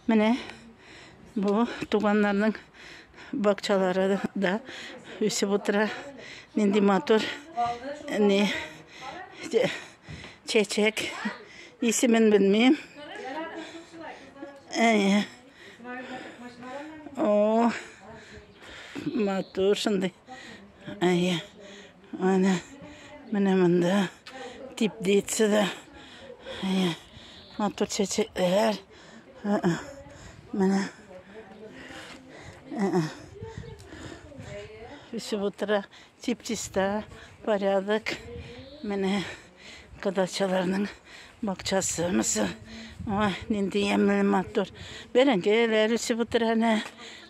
Менә бу туганнарның бакчалары да үсеп утыра. Нинди матур не чәчәк. Исемен белмим. Әйе. О, матур шундый. Әйе. Аны менә монда теплица да. Матур чәчәкләр. Менә үсеп утыра. Чип-чиста, порядок. Менә Кодачаларның бакчасы мысы. Ой, нинди ямлы матур. Бәрәңгеләр үсеп утыр әнә.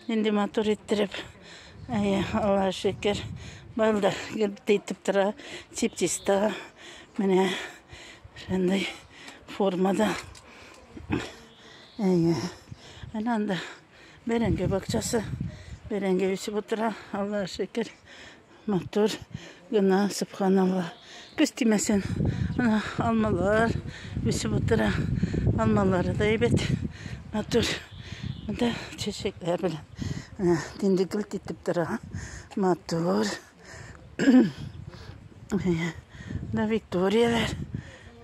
Нинди матур иттереп. Әйе, Алла шөкер. Бал да итеп тора. Тип-тиста. Менә шундый формада. Әйе. Әнә анда бәрәңге бакчасы. Бәрәңге үсеп утыра. Алла шөкер. Матур гына, субханалла. Көз тимәсен. Ана алмалар үсеп утыра. Алмалары да әйбәт. Матур. Монда чәчәкләр белән. Ана инде гөлт итеп тора. Матур. Да Викторияләр.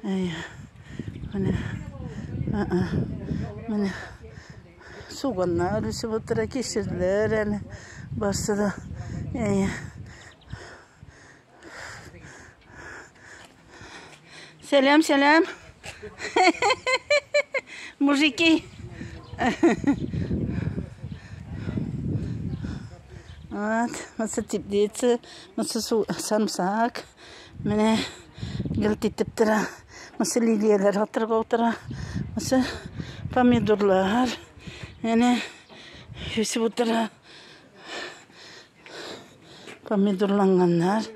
Менә. Менә. Суганнар үсеп утыра, кишерләр әле барсы да. Сәлам, сәлам. Мужики. Вот, вот теплица, вот сам сак. Менә гелт итеп тора. Мысы лилияләр атырга утыра. Мысы помидорлар. Әнә үсеп утыра. Помидорланганнар.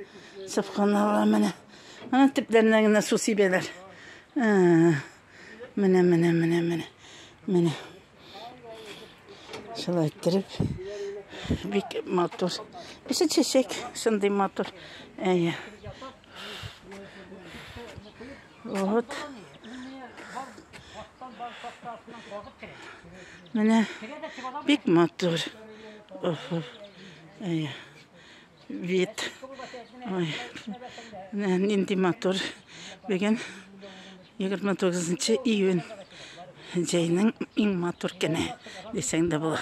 Сыпханалла менә. Ана төпләренә генә су сибәләр. Менә, менә, менә, менә. Менә. Шулай иттереп, бик матур. Эше чәчәк, шундый матур. Әйе. Вот. Менә бик матур. Әйе. Вид. Ой, менә нинди матур. Бүген 29 июнь. Җәйнең иң матур көне дисәң дә була.